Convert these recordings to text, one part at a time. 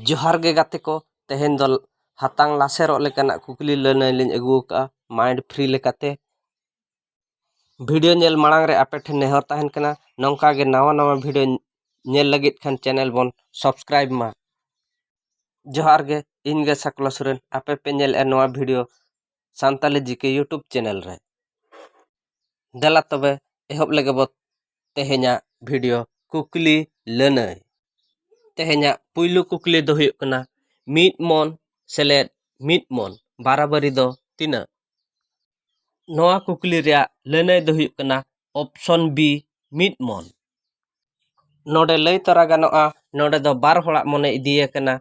ᱡᱚᱦᱟᱨ ᱜᱮ ᱜᱟᱛᱮ ᱠᱚ ᱛᱮᱦᱮᱧ ᱫᱚ ᱦᱟᱛᱟᱝ ᱞᱟᱥᱮᱨᱚᱜ ᱞᱮᱠᱟᱱᱟᱜ ᱠᱩᱠᱞᱤ ᱞᱟᱹᱱᱟᱹᱭ ᱞᱤᱧ ᱟᱹᱜᱩ ᱟᱠᱟᱫᱼᱟ ᱢᱟᱭᱤᱱᱰ ᱯᱷᱨᱤ ᱞᱮᱠᱟᱛᱮ ᱵᱷᱤᱰᱤᱭᱳ ᱧᱮᱞ ᱢᱟᱲᱟᱝ ᱨᱮ ᱟᱯᱮ ᱴᱷᱮᱱ ᱱᱮᱦᱚᱨ ᱛᱟᱦᱮᱱ ᱠᱟᱱᱟ ᱱᱚᱝᱠᱟ ᱜᱮ ᱱᱟᱣᱟ ᱱᱟᱣᱟ ᱵᱷᱤᱰᱤᱭᱳ ᱧᱮᱞ ᱞᱟᱹᱜᱤᱫ ᱠᱷᱟᱱ ᱪᱮᱱᱮᱞ ᱵᱚᱱ ᱥᱟᱵᱥᱠᱨᱟᱭᱤᱵᱽ ᱢᱟ ᱡᱚᱦᱟᱨ ᱜᱮ ᱤᱧ ᱜᱮ ᱥᱟᱠᱞᱟ ᱥᱚᱨᱮᱱ ᱟᱯᱮ ᱯᱮ ᱧᱮᱞᱮᱫᱼᱟ ᱱᱚᱣᱟ ᱵᱷᱤᱰᱤᱭᱳ ᱥᱟᱱᱛᱟᱞᱤ ᱡᱤᱠᱮ ᱤᱭᱩᱴᱩᱵᱽ ᱪᱮᱱᱮᱞ ᱨᱮ ᱫᱮᱞᱟ ᱛᱚᱵᱮ ᱮᱦᱚᱵ ᱞᱮᱜᱮ ᱵᱚ ᱛᱮᱦᱮᱧᱟᱜ ᱵᱷᱤᱰᱤᱭᱳ ᱠᱩᱠᱞᱤ ᱞᱟᱹᱱᱟᱹᱭ ᱛᱮᱦᱮᱧᱟᱜ ᱯᱩᱭᱞᱩ ᱠᱩᱠᱞᱤ ᱫᱚ ᱦᱩᱭᱩᱜ ᱠᱟᱱᱟ ᱢᱤᱫ ᱢᱚᱱ ᱥᱮᱞᱮᱫ ᱢᱤᱫ ᱢᱚᱱ ᱵᱟᱨᱟᱵᱟᱹᱨᱤ ᱫᱚ ᱛᱤᱱᱟᱹᱜ ᱱᱚᱣᱟ ᱠᱩᱠᱞᱤ ᱨᱮᱭᱟᱜ ᱞᱟᱹᱱᱟᱹᱭ ᱫᱚ ᱦᱩᱭᱩᱜ ᱠᱟᱱᱟ ᱚᱯᱥᱚᱱ ᱵᱤ ᱢᱤᱫ ᱢᱚᱱ ᱱᱚᱰᱮ ᱞᱟᱹᱭ ᱛᱚᱨᱟ ᱜᱟᱱᱚᱜᱼᱟ ᱱᱚᱰᱮ ᱫᱚ ᱵᱟᱨ ᱦᱚᱲᱟᱜ ᱢᱚᱱᱮ ᱤᱫᱤ ᱟᱠᱟᱱᱟ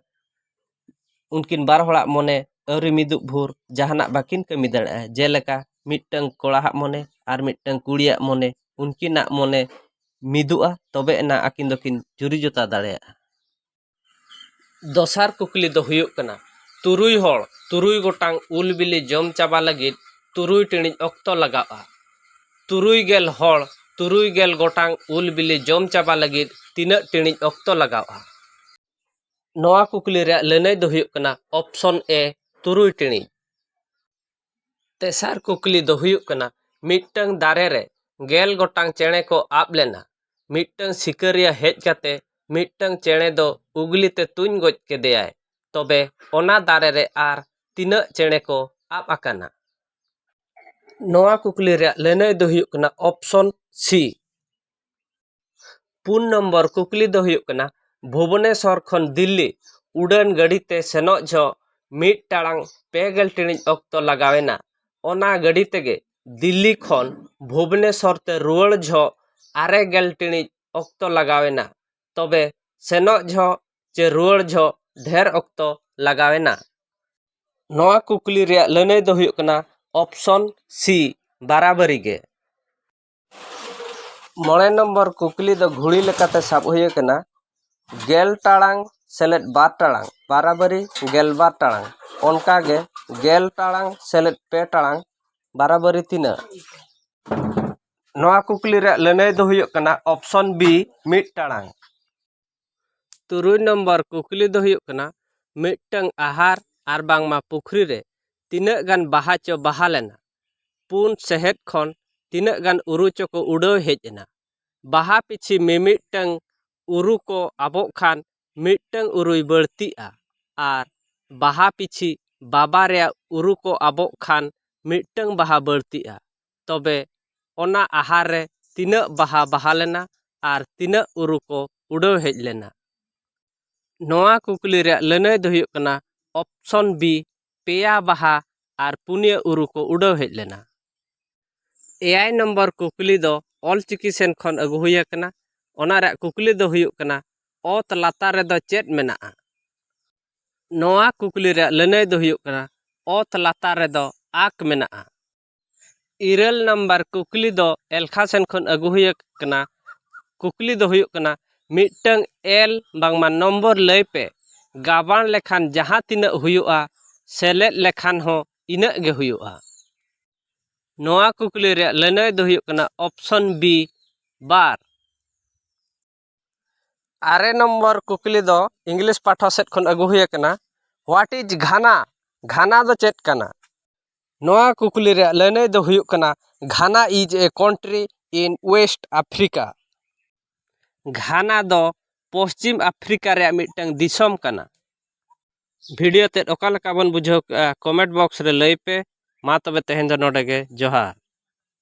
ᱩᱱᱠᱤᱱ ᱵᱟᱨ ᱦᱚᱲᱟᱜ ᱢᱚᱱᱮ ᱟᱹᱣᱨᱤ ᱢᱤᱫᱩᱜ ᱵᱷᱳᱨ ᱡᱟᱦᱟᱱᱟᱜ ᱵᱟᱹᱠᱤᱱ ᱠᱟᱹᱢᱤ ᱫᱟᱲᱮᱭᱟᱜᱼᱟ ᱡᱮᱞᱮᱠᱟ ᱢᱤᱫᱴᱟᱹᱝ ᱠᱚᱲᱟ ᱦᱟᱜ ᱢᱚᱱᱮ ᱟᱨ ᱢᱤᱫᱴᱟᱹᱝ ᱠᱩᱲᱤᱭᱟᱜ ᱢᱚᱱᱮ ᱩᱱᱠᱤᱱᱟᱜ ᱢᱚᱱᱮ ᱢᱤᱫᱩᱜᱼᱟ ᱛᱚᱵᱮ ᱟᱱᱟᱜ ᱟᱹᱠᱤᱱ ᱫᱚᱠᱤᱱ ᱡᱩᱨᱤ ᱡᱚᱛᱟ ᱫᱟᱲᱮᱭᱟᱜᱼᱟ ᱫᱚᱥᱟᱨ ᱠᱩᱠᱞᱤ ᱫᱚ ᱦᱩᱭᱩᱜ ᱠᱟᱱᱟ ᱛᱩᱨᱩᱭ ᱦᱚᱲ ᱛᱩᱨᱩᱭ ᱜᱚᱴᱟᱝ ᱩᱞ ᱵᱤᱞᱤ ᱡᱚᱢ ᱪᱟᱵᱟ ᱞᱟᱹᱜᱤᱫ ᱛᱩᱨᱩᱭ ᱴᱤᱬᱤᱡ ᱚᱠᱛᱚ ᱞᱟᱜᱟᱜᱼᱟ ᱛᱩᱨᱩᱭ ᱜᱮᱞ ᱦᱚᱲ ᱛᱩᱨᱩᱭ ᱜᱮᱞ ᱜᱚᱴᱟᱝ ᱩᱞ ᱵᱤᱞᱤ ᱡᱚᱢ ᱪᱟᱵᱟ ᱞᱟᱹᱜᱤᱫ ᱛᱤᱱᱟᱹᱜ ᱴᱤᱬᱤᱡ ᱚᱠᱛᱚ ᱞᱟᱜᱟᱜᱼᱟ ᱱᱚᱣᱟ ᱠᱩᱠᱞᱤ ᱨᱮᱭᱟᱜ ᱞᱟᱹᱱᱟᱹᱭ ᱫᱚ ᱦᱩᱭᱩᱜ ᱠᱟᱱᱟ ᱚᱯᱥᱚᱱ ᱮ ᱛᱩᱨᱩᱭ ᱴᱤᱬᱤᱡ ᱛᱮᱥᱟᱨ ᱠᱩᱠᱞᱤ ᱫᱚ ᱦᱩᱭᱩᱜ ᱠᱟᱱᱟ ᱢᱤᱫᱴᱟᱹᱝ ᱫᱟᱨᱮ ᱨᱮ ᱜᱮᱞ ᱜᱚᱴᱟᱝ ᱪᱮᱬᱮ ᱠᱚ ᱟᱵ ᱞᱮᱱᱟ ᱢᱤᱫᱴᱟᱹᱝ ᱥᱤᱠᱟᱹᱨᱤᱭᱟᱹ ᱦᱮᱡ ᱠᱟᱛᱮᱫ ᱢᱤᱫᱴᱟᱹᱝ ᱪᱮᱬᱮ ᱫᱚ ᱩᱜᱽᱞᱤ ᱛᱮ ᱛᱩᱧ ᱜᱚᱡ ᱠᱮᱫᱮᱭᱟᱭ ᱛᱚᱵᱮ ᱚᱱᱟ ᱫᱟᱨᱮ ᱨᱮ ᱟᱨ ᱛᱤᱱᱟᱹᱜ ᱪᱮᱬᱮ ᱠᱚ ᱟᱵ ᱟᱠᱟᱱᱟ ᱱᱚᱣᱟ ᱠᱩᱠᱞᱤ ᱨᱮᱭᱟᱜ ᱞᱟᱹᱱᱟᱹᱭ ᱫᱚ ᱦᱩᱭᱩᱜ ᱠᱟᱱᱟ ᱚᱯᱷᱥᱚᱱ ᱥᱤ ᱯᱩᱱ ᱱᱚᱢᱵᱚᱨ ᱠᱩᱠᱞᱤ ᱫᱚ ᱦᱩᱭᱩᱜ ᱠᱟᱱᱟ ᱵᱷᱩᱵᱚᱱᱮᱥᱚᱨ ᱠᱷᱚᱱ ᱫᱤᱞᱞᱤ ᱩᱰᱟᱹᱱ ᱜᱟᱹᱰᱤ ᱛᱮ ᱥᱮᱱᱚᱜ ᱡᱚᱦᱚᱜ ᱢᱤᱫ ᱴᱟᱲᱟᱝ ᱯᱮ ᱜᱮᱞ ᱴᱤᱬᱤᱡ ᱚᱠᱛᱚ ᱞᱟᱜᱟᱣ ᱮᱱᱟ ᱚᱱᱟ ᱜᱟᱹᱰᱤ ᱛᱮᱜᱮ ᱫᱤᱞᱞᱤ ᱠᱷᱚᱱ ᱵᱷᱩᱵᱚᱱᱮᱥᱚᱨ ᱛᱮ ᱨᱩᱣᱟᱹᱲ ᱡᱚᱦᱚᱜ ᱟᱨᱮ ᱜᱮᱞ ᱴᱤᱬᱤᱡ ᱚᱠᱛᱚ ᱞᱟᱜᱟᱣ ᱮᱱᱟ ᱛᱚᱵᱮ ᱥᱮᱱᱚᱜ ᱡᱚᱦᱚᱜ ᱪᱮ ᱨᱩᱣᱟᱹᱲ ᱡᱚᱦᱚᱜ ᱰᱷᱮᱨ ᱚᱠᱛᱚ ᱞᱟᱜᱟᱣ ᱮᱱᱟ ᱱᱚᱣᱟ ᱠᱩᱠᱞᱤ ᱨᱮᱭᱟᱜ ᱞᱟᱹᱱᱟᱹᱭ ᱫᱚ ᱦᱩᱭᱩᱜ ᱠᱟᱱᱟ ᱚᱯᱷᱥᱚᱱ ᱥᱤ ᱵᱟᱨᱟᱵᱟᱹᱨᱤ ᱜᱮ ᱢᱚᱬᱮ ᱱᱚᱢᱵᱚᱨ ᱠᱩᱠᱞᱤ ᱫᱚ ᱜᱷᱩᱲᱤ ᱞᱮᱠᱟᱛᱮ ᱥᱟᱵ ᱦᱩᱭ ᱟᱠᱟᱱᱟ ᱜᱮᱞ ᱴᱟᱲᱟᱝ ᱥᱮᱞᱮᱫ ᱵᱟᱨ ᱴᱟᱲᱟᱝ ᱵᱟᱨᱟᱵᱟᱹᱨᱤ ᱜᱮᱞ ᱵᱟᱨ ᱴᱟᱲᱟᱝ ᱚᱱᱠᱟ ᱜᱮ ᱜᱮᱞ ᱴᱟᱲᱟᱝ ᱥᱮᱞᱮᱫ ᱯᱮ ᱴᱟᱲᱟᱝ ᱵᱟᱨᱟᱵᱟᱹᱨᱤ ᱛᱤᱱᱟᱹᱜ ᱱᱚᱣᱟ ᱠᱩᱠᱞᱤ ᱨᱮᱭᱟᱜ ᱞᱟᱹᱱᱟᱹᱭ ᱫᱚ ᱦᱩᱭᱩᱜ ᱠᱟᱱᱟ ᱚᱯᱷᱥᱚᱱ ᱵᱤ ᱢᱤᱫ ᱴᱟᱲᱟᱝ ᱛᱩᱨᱩᱭ ᱱᱚᱢᱵᱚᱨ ᱠᱩᱠᱞᱤ ᱫᱚ ᱦᱩᱭᱩᱜ ᱠᱟᱱᱟ ᱢᱤᱫᱴᱟᱹᱝ ᱟᱦᱟᱨ ᱟᱨ ᱵᱟᱝᱢᱟ ᱯᱩᱠᱷᱨᱤ ᱨᱮ ᱛᱤᱱᱟᱹᱜ ᱜᱟᱱ ᱵᱟᱦᱟ ᱪᱚ ᱵᱟᱦᱟ ᱞᱮᱱᱟ ᱯᱩᱱ ᱥᱮᱦᱮᱫ ᱠᱷᱚᱱ ᱛᱤᱱᱟᱹᱜ ᱜᱟᱱ ᱩᱨᱩ ᱪᱚ ᱠᱚ ᱩᱰᱟᱹᱣ ᱦᱮᱡ ᱮᱱᱟ ᱵᱟᱦᱟ ᱯᱤᱪᱷᱤ ᱢᱤᱢᱤᱫᱴᱟᱹᱝ ᱩᱨᱩ ᱠᱚ ᱟᱵᱚᱜ ᱠᱷᱟᱱ ᱢᱤᱫᱴᱟᱹᱝ ᱩᱨᱩᱭ ᱵᱟᱹᱲᱛᱤᱜᱼᱟ ᱟᱨ ᱵᱟᱦᱟ ᱯᱤᱪᱷᱤ ᱵᱟᱵᱟᱨᱭᱟ ᱩᱨᱩ ᱠᱚ ᱟᱵᱚᱜ ᱠᱷᱟᱱ ᱢᱤᱫᱴᱟᱹᱝ ᱵᱟᱦᱟ ᱵᱟᱹᱲᱛᱤᱜᱼᱟ ᱛᱚᱵᱮ ᱚᱱᱟ ᱟᱦᱟᱨ ᱨᱮ ᱛᱤᱱᱟᱹᱜ ᱵᱟᱦᱟ ᱵᱟᱦᱟ ᱞᱮᱱᱟ ᱟᱨ ᱛᱤᱱᱟᱹᱜ ᱩᱨᱩ ᱠᱚ ᱩᱰᱟᱹᱣ ᱦᱮᱡ ᱞᱮᱱᱟ ᱱᱚᱣᱟ ᱠᱩᱠᱞᱤ ᱨᱮᱭᱟᱜ ᱞᱟᱹᱱᱟᱹᱭ ᱫᱚ ᱦᱩᱭᱩᱜ ᱠᱟᱱᱟ ᱚᱯᱥᱚᱱ ᱵᱤ ᱯᱮᱭᱟ ᱵᱟᱦᱟ ᱟᱨ ᱯᱩᱱᱭᱟᱹ ᱩᱨᱩ ᱠᱚ ᱩᱰᱟᱹᱣ ᱦᱮᱡ ᱞᱮᱱᱟ ᱮᱭᱟᱭ ᱱᱚᱢᱵᱚᱨ ᱠᱩᱠᱞᱤ ᱫᱚ ᱚᱞ ᱪᱤᱠᱤ ᱥᱮᱱ ᱠᱷᱚᱱ ᱟᱹᱜᱩ ᱦᱩᱭ ᱟᱠᱟᱱᱟ ᱚᱱᱟ ᱨᱮᱭᱟᱜ ᱠᱩᱠᱞᱤ ᱫᱚ ᱦᱩᱭᱩᱜ ᱠᱟᱱᱟ ᱚᱛ ᱞᱟᱛᱟᱨ ᱨᱮᱫᱚ ᱪᱮᱫ ᱢᱮᱱᱟᱜᱼᱟ ᱱᱚᱣᱟ ᱠᱩᱠᱞᱤ ᱨᱮᱭᱟᱜ ᱞᱟᱹᱱᱟᱹᱭ ᱫᱚ ᱦᱩᱭᱩᱜ ᱠᱟᱱᱟ ᱚᱛ ᱞᱟᱛᱟᱨ ᱨᱮᱫᱚ ᱟᱸᱠ ᱢᱮᱱᱟᱜᱼᱟ ᱤᱨᱟᱹᱞ ᱱᱟᱢᱵᱟᱨ ᱠᱩᱠᱞᱤ ᱫᱚ ᱮᱞᱠᱷᱟ ᱥᱮᱱ ᱠᱷᱚᱱ ᱟᱹᱜᱩ ᱦᱩᱭ ᱟᱠᱟᱱᱟ ᱠᱩᱠᱞᱤ ᱫᱚ ᱦᱩᱭᱩᱜ ᱠᱟᱱᱟ ᱢᱤᱫᱴᱟᱹᱝ ᱮᱞ ᱵᱟᱝᱢᱟ ᱱᱚᱢᱵᱚᱨ ᱞᱟᱹᱭ ᱯᱮ ᱜᱟᱵᱟᱬ ᱞᱮᱠᱷᱟᱱ ᱡᱟᱦᱟᱸ ᱛᱤᱱᱟᱹᱜ ᱦᱩᱭᱩᱜᱼᱟ ᱥᱮᱞᱮᱫ ᱞᱮᱠᱷᱟᱱ ᱦᱚᱸ ᱤᱱᱟᱹᱜ ᱜᱮ ᱦᱩᱭᱩᱜᱼᱟ ᱱᱚᱣᱟ ᱠᱩᱠᱞᱤ ᱨᱮᱭᱟᱜ ᱞᱟᱹᱱᱟᱹᱭ ᱫᱚ ᱦᱩᱭᱩᱜ ᱠᱟᱱᱟ ᱚᱯᱷᱥᱚᱱ ᱵᱤ ᱵᱟᱨ ᱟᱨᱮ ᱱᱚᱢᱵᱚᱨ ᱠᱩᱠᱞᱤ ᱫᱚ ᱤᱝᱞᱤᱥ ᱯᱟᱦᱴᱟ ᱥᱮᱫ ᱠᱷᱚᱱ ᱟᱹᱜᱩ ᱦᱩᱭ ᱟᱠᱟᱱᱟ ᱦᱳᱣᱟᱴ ᱤᱡᱽ ᱜᱷᱟᱱᱟ ᱜᱷᱟᱱᱟ ᱫᱚ ᱪᱮᱫ ᱠᱟᱱᱟ ᱱᱚᱣᱟ ᱠᱩᱠᱞᱤ ᱨᱮᱭᱟᱜ ᱞᱟᱹᱱᱟᱹᱭ ᱫᱚ ᱦᱩᱭᱩᱜ ᱠᱟᱱᱟ Ghana is a country in West Africa Ghana ᱫᱚ ᱯᱚᱥᱪᱤᱢ ᱟᱯᱷᱨᱤᱠᱟ ᱨᱮᱭᱟᱜ ᱢᱤᱫᱴᱟᱹᱝ ᱫᱤᱥᱚᱢ ᱠᱟᱱᱟ ᱵᱷᱤᱰᱤᱭᱳ ᱛᱮᱫ ᱚᱠᱟ ᱞᱮᱠᱟ ᱵᱚᱱ ᱵᱩᱡᱷᱟᱹᱣ ᱠᱮᱜᱼᱟ ᱠᱚᱢᱮᱱᱴ ᱵᱚᱠᱥ ᱨᱮ ᱞᱟᱹᱭ ᱯᱮ ᱢᱟ ᱛᱚᱵᱮ ᱛᱮᱦᱮᱧ ᱫᱚ ᱱᱚᱰᱮ ᱜᱮ ᱡᱚᱦᱟᱨ